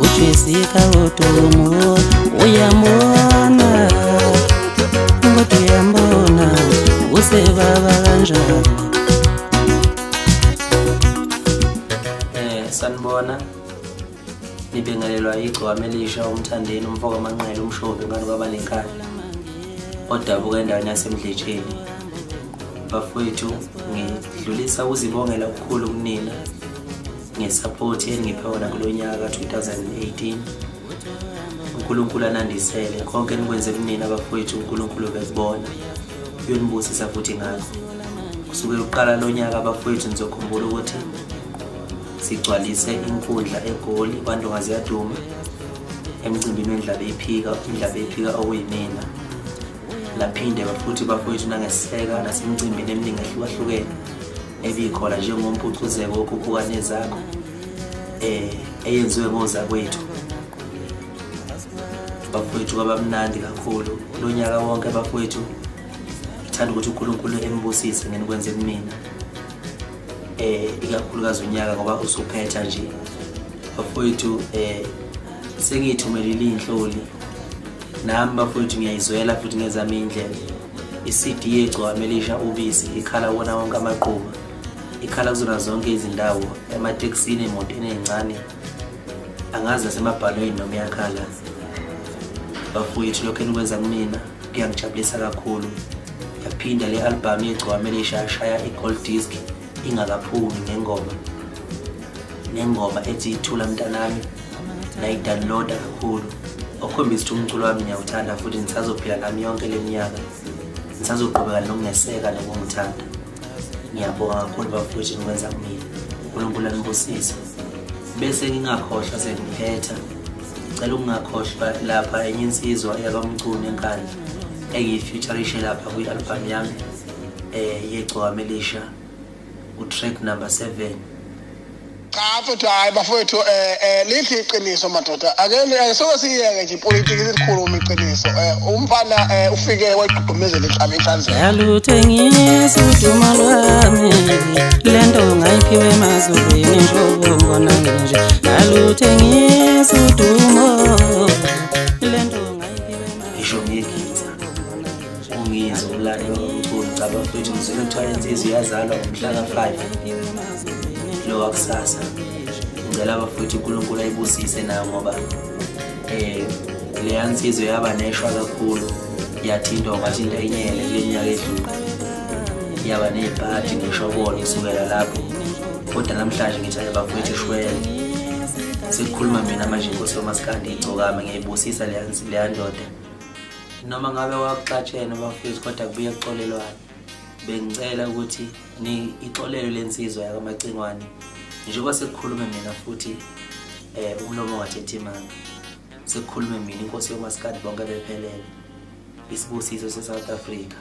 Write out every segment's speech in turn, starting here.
uchisika utumu uyambona ngoto yambona usebaba kanjani eh, sanibona nibingelelwa igcwame elisha umthandeni umfo kamanqele umshombe ngani kwaba nenkani odabuka endaweni yasemdletsheni bafowethu ngidlulisa ukuzibongela okukhulu kunina ngesapoti engiphe wona kulo nyaka 2018 unkulunkulu anandisele konke enikwenze kunini abafowethu unkulunkulu bekubona uyonibusisa futhi ngakho kusuke uqala lo nyaka abafowethu nizokhumbula ukuthi sigcwalise inkundla egoli kwantongazi yadume emcimbini wendlaba eyiphika indlaba eyiphika okuyimina laphinde futhi bafowethu nangeseka nasemcimbini eminingi ehlukahlukene ebikhona njengompucuzeko wokhuphuka nezakho eh eyenziwe ngozakwethu bafowethu kwabamnandi kakhulu lonyaka wonke bafowethu ngithanda ukuthi uNkulunkulu embusise ngenikwenze kumina eh ikakhulukazi unyaka ngoba usuphetha nje bafowethu eh sengiyithumelile inhloli nami bafowethu ngiyayizwela futhi ngezami indlela I-CD yegcwame elisha ubisi ikhala wona wonke amaquba. Ikhala kuzona zonke izindawo, ematekisini, emotweni ezincane. Angazi nasemabhalweni noma iyakhala. Bafowethu lokho enikwenza kumina kuyangijabulisa kakhulu. Yaphinda le albhamu yegcwame elisha yashaya i-gold disc ingakaphumi ngengoma nengoma ethi ithula mntanami nayidownloada kakhulu okukhombisa ukuthi umculo wami ngiyawuthanda futhi ngisazophila nami yonke le minyaka ngisazoqhubeka nokungeseka nokungithanda ngiyabonga kakhulu bafowethu nikwenza kumina unkulunkulu anibusise bese ngingakhohlwa sengiphetha ngicela ukungakhohlwa lapha enye insizwa yakamcuni enkandla engiyifeaturishe lapha kwi-albhamu yami eh yegcwame lisha utrack number 7 cha futhi hayi bafowethu um um lithi iqiniso madoda ake soke siyeke nje ipolitiki sikhulume iqiniso um umfana um ufike wayigqugqumezela ihlaba ihlanzela yaluthengisa uduma lwami le nto ngayiphiwe emazulwini nhlobo ngona nje yaluthengisa udumo ungizwe umlando omkhulu cha bafethu ngizwile kuthiwa insizwa iyazalwa ngomhla ka-five lo wakusasa ngicela abafethu unkulunkulu ayibusise nayo ngoba um leya nsizwa yaba neshwa kakhulu yathintwa ungathi into enyele kule nyaka edlule yaba ney'pati ngeshobolo kusukela lapho kodwa namhlanje ngithi aye bafethu ishwele sekukhuluma mina manje inkosi yomasikandi igcokame ngiyayibusisa leya ndoda noma ngabe wakuxatshene bafethu kodwa kubuye kuxolelwane bengicela ukuthi ixolelo lensizwa yakamacingwane njengoba sekukhulume mina futhi um umlomo wathetha imanga sekukhulume mina inkosi yomasikadi bonke bephelele isibusiso se-south africa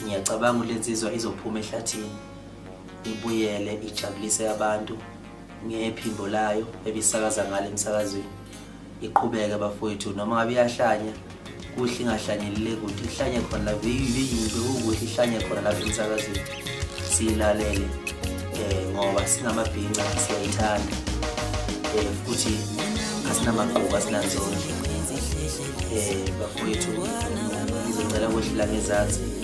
ngiyacabanga ukuthi lensizwa izophuma ehlathini ibuyele ijabulise abantu ngephimbo layo ebisakaza ngalo emsakazweni iqhubeke bafowethu noma ngabe iyahlanya kuhle ingahlanyelile kuthi ihlanye khona lapho beyiyinto ukuthi ihlanye khona lapho emsakazweni siyilalele um ngoba singamabhinca siyayithanda um futhi asinamagquku asinanzonke um bafowethu ngizocela kwehlela ngezansi